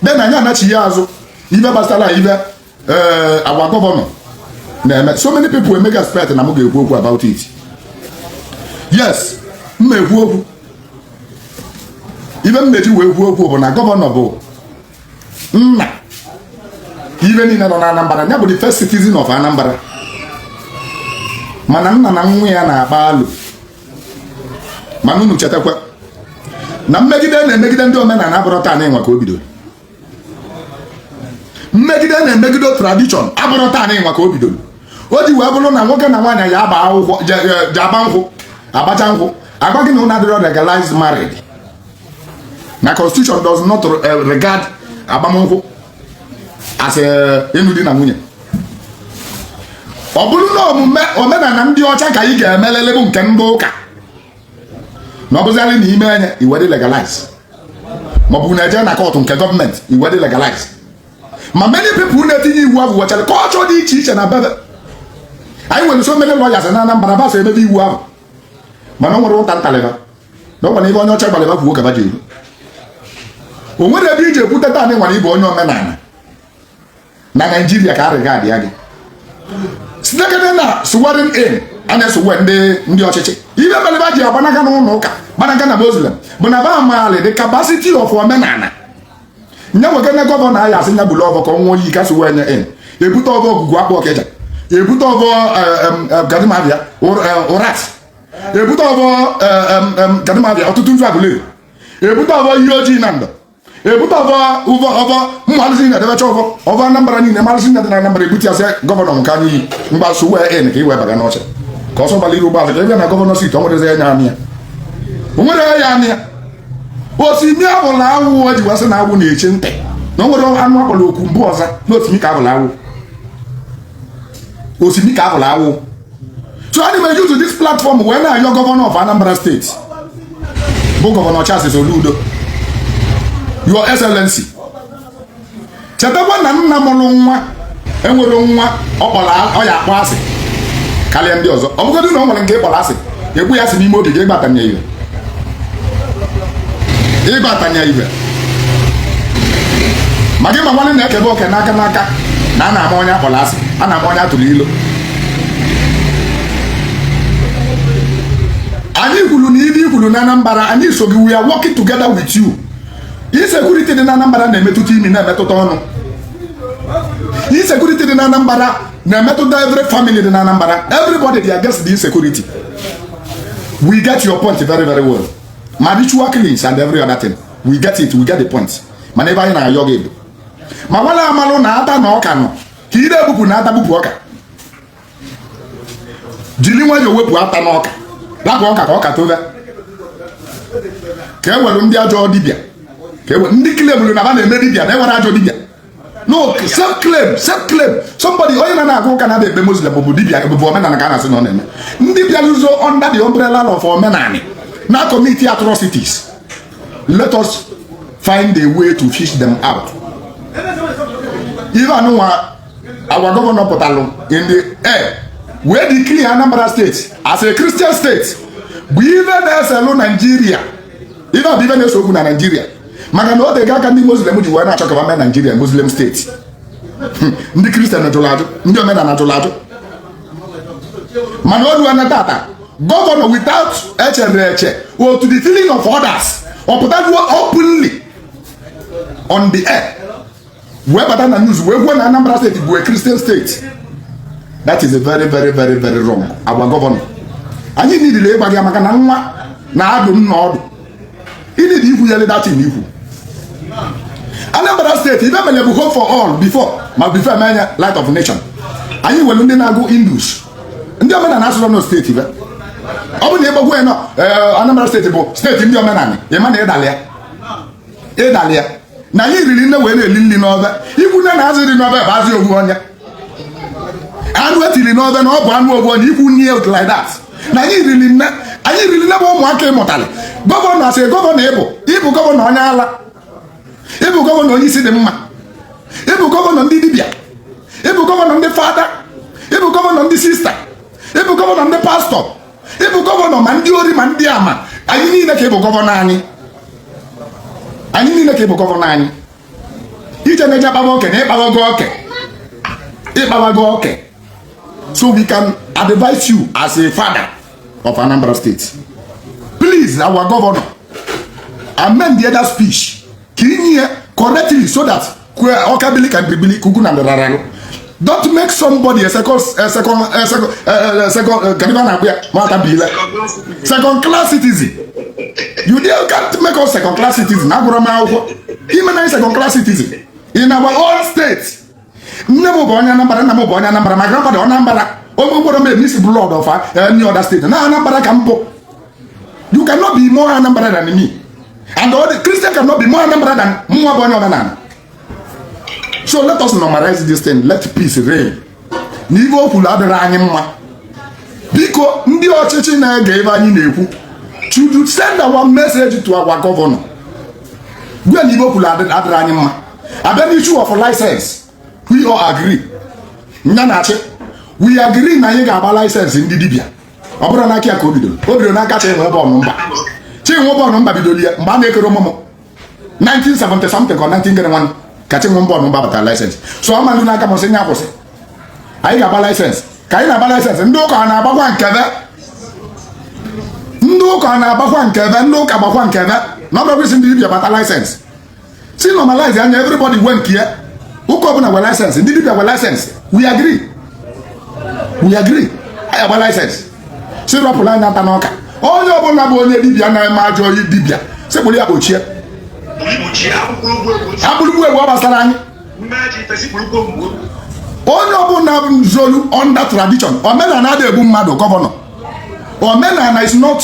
then anyị anachie azụ ive gbasara ive eh, our gọvanọ na-eme so many people emega expect na m ga-ekwu okwu about it yes m na-ekwu okwu ive m na-eji wee kwuo okwu bụ na gọvanọ bụ nna ive niile nọ na Anambra ya bụ the first citizen of Anambra mana nna na nwa ya na-akpa alo mana unu chetakwa na mmegide a na-emegide ndị omenala abụrọ taa nụnwa ka o bidoro mmegide a na-emegide tradition abụrọ taa nụnwa ka o bidoro o ji wee bụrụ na nwoke na nwaanyị ya-agba akwụkwọ je-agba nkwụ agbacha nkwụ a gwa gị na ụnụ adịrọ legalized married na constitution does not eh, regard agbamnkwụ as eh, ịnụ di na nwunye ọ bụrụ na ọọ omenala ndị ọcha ka ị ga-emelili bụ nke ndị ụka na ọ bụzịarị na i mee nya i wee dị legalize maọbụ na e jee na kọtụ nke gọọmenti i wee dị legalize ma many people na-etinye iwu ahụ nwechara culture dị iche iche na be va anyị nwere so many lawyers na Anambra va so emebe iwu ahụ mana o nwerọ ụta m talị va na ọ gwara ihe onye ọcha gwalị va kwuo ka va ji eru o nwerọ ebe i ji ekwute taa nụnwa na ị bụ onye omenala na Naijiria ka arịga adịa gị sitekene na swearing in a na-eswear ndị ndị ọchịchị ive melụ va ji agbanaga n'ụlọ ụka gbanaga na muslim bụ na va maalị the capacity of omenala nye wekene gọvanọ anyị a sị nya buru ọvọ ka ọ ṅụọ iyi ka a swear nya in ebute ọvọ Ogwugwu Akpụ Ọkịja ebute ọvọ ga-adị ma a bịa Ụrasị ebute ọvọ ga-adị ma a bịa Ọtụtụ Nzu Aguleri ebute ọvọ Iyi Ojii Nando ebute ọvọ ọvọ ọvọ ụmụ alụsị na-edebecha ọvọ ọvọ Anambra niile ụmụ alụsị na-adị na Anambra ebute ya sị gọvanọ nke anyị iyi m gbaa swearing in ka i wee baga n'oche ka ọsọ gbara iru ụgbọala ka ị bịa na gọvanọ seat o nwerọzi onye ya-anọ ya o nwerọ onye ya-anọ ya osimi abụla awọ e ji wee asị na awọ na-eche nte na o nwerọ anụ a kpọrọ oku mbụ ọ za na osimi ka abụla awọ osimi ka abụla awọ so ana m a-use this platform wee na-ayọ gọvanọ of Anambra State bụ gọvanọ Charles Soludo your excellency chetakwa na nna mụrụ nwa e nwerọ nwa ọ ya-akpọ asị karịa ndị ọzọ ọ bụgodị na o nwere nke ị kpọrọ asị egbu ya si n'ime obi gị ịgbatanye ihe ịgbatanye ihe ma gị ma nwanne na e kebe oke n'aka n'aka na a na-ama onye a kpọrọ asị a na-ama onye a tụrụ ilo anyị kwụrụ na ive i kwuru na Anambra anyị so gị we are working together with you insecurity dị na Anambra na-emetụta imi na-emetụta ọnụ insecurity dị na Anambra na-emetụta every family dị na Anambra everybody dị against the insecurity we get your point very very well ma ritual killings and every other thing we get it we get the point mana ebe anyị na-ayọ gị ma nwere amalụ na ata na ọka nọ ka ire ebupụ na ata bupụ ọka jiri nwayọọ wepụ ata n'ọka rapụ ọka ka ọka tobe ka e were ndị ajọ dibịa ka e were ndị claimụrụ na ha na-eme dibịa na e nwere ajọ dibịa no self claim self claim somebody onye na na-agụ ụka na-abịa ekpe muslim bụ dibịa bụ omenala ka a na-asị na ọ na-eme dibịa na-ezo under the umbrella of omenala na-commit atrocities let us find a way to fish them out. Even our gọvanọ pụtalụ in the air wee declare Anambra steeti as a Christian state bụ ife na-eselụ Naijiria ife bụ ife na-ese okwu na Naijiria maka na o tego aka ndị Muslim ji wee na-achọ ka e mee Naijiria Muslim steeti hmm, ndị Kristian jụrụ ajụ ndị omenala jụrụ ajụ mana o luo na tata gọvanọ without echere eche otu the feeling of others ọ pụtajuo openly on the air wee bata na news wee kwuo na Anambra steeti bụ a Christian steeti that is a very very very very wrong our gọvanọ anyị needili ịgwa gị maka na nwa na-adụ nna ọdụ ị needi ikwu ya like that ikwu Anambra steeti ife mere bụ home for all before ma before e mee nya light of nation anyị nwere ndị na-agụ Hindus ndị omenala asụsụ nọ steeti be ọ bụ na ị bịa kwuo ya na eh, Anambra steeti bụ steeti ndị omenala ị ma na ị dalị ya ị dalị ya na anyị niile wee na-eli nri n'ofe i kwune na azụ dị n'ofe bụ azụ ofu onye anụ e tiri n'ofe na ọ bụ anụ ofu onye i kwune ya like that na anyị niile anyị niile bụ ụmụaka ị mụtara gọvanọ as a gọvanọ ị bụ ị bụ gọvanọ onye ala ị bụ gọvanọ onye isi dị mma ị bụ gọvanọ ndị dibịa ị bụ gọvanọ ndị fada ị bụ gọvanọ ndị sista ị bụ gọvanọ ndị pastọ ị bụ gọvanọ ma ndị ori ma ndị ama anyị niile ka ị bụ gọvanọ anyị anyị niile ka ị bụ gọvanọ anyị i jena eje akpawa oke na ị kpawago oke ị kpawago oke so we can advise you as a father of Anambra State please our governor amend the other speech ka i nye ya correctly so that ọka bili ka bibili ka ugwu na ndịrara arụ don't make somebody a second a second a second a second kedụ ife a na-akpọ ya nwata bụ ile second class citizen you can't make us second class citizen agụrọ m akwụkwọ i mena second class citizen in our own state nne m bụ onye Anambra nna m bụ onye Anambra my grandfather Anambra onye obodo mere mix blood of any other state na Anambra ka m bụ you cannot be more Anambra than me and all the Christian cannot be more Anambra than mụnwa bụ onye ọdịnala so let us normalize this thing let peace reign na ive o kwuru adịrọ anyị mma biko ndị ọchịchị na-ege ive anyị na-ekwu to send our message to our governor gwa na ive o kwuru adịrọ anyị mma a bịa n'issue of license we all agree nya na-achị we agree na anyị ga-agba license ndị dibịa ọ bụrọ n'aka ya ka o bidoro o bidoro n'aka chi enwe bọọlụ mba chi enwe bọọlụ mba bidoro ya mgbe a na-akarọ amụ mụ 1970 something ka 19 gere nwanne ka chi nwe bọọlụ mba batara license so ọ mandụ n'aka mụ sị nya kwụsị anyị ga-agba license ka anyị na-agba license ndị ụka ana-agbakwa nke ve ndị ụka ana-agbakwa nke ve ndị ụka gbakwa nke ve na ọ bụrụ kwesị ndị dibịa gbata license sị normalize nya everybody nwee nke ya ụka ọbụla nwee license ndị dibia nwee license we agree we agree anyị agba license sị rọpụrụ anyị ata n'ọka onye ọbụla bụ onye dibia na-eme ajọ oyi dibia sị kpụrụ ya kpọchie a kpụrụ gbuo egbu ọ gbasarọ anyị onye ọbụla zolu under tradition omenala adịghị egbu mmadụ gọvanọ omenala is not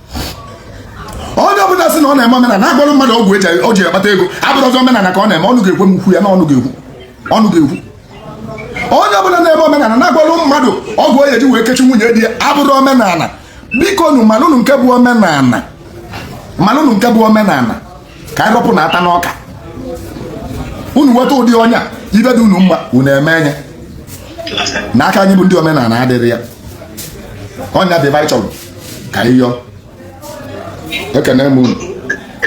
onye ọbụla sị na ọ na-eme omenala na-agwọrọ mmadụ ọgwụ eji o ji akpata ego abụrọzi omenala ka ọ na-eme ọnụ ga-ekwe mụ kwuo ya na ọnụ ga-ekwu ọnụ ga-ekwu onye ọbụla na-eme omenala na-agwọrọ mmadụ ọgwụ onye ji wee kechie nwunye di ya abụrọ omenala bikonu malụnụ nke bụ omenala malụnụ nke bụ omenala ka anyị rọpụ na ata n'ọka unu nweta ụdị onye a ive dị unu mma unu emee nya na aka anyị bụ ndị omenala adịrọ ya ọ nya bụ ive anyị chọrọ ka anyị yọọ ekene m unu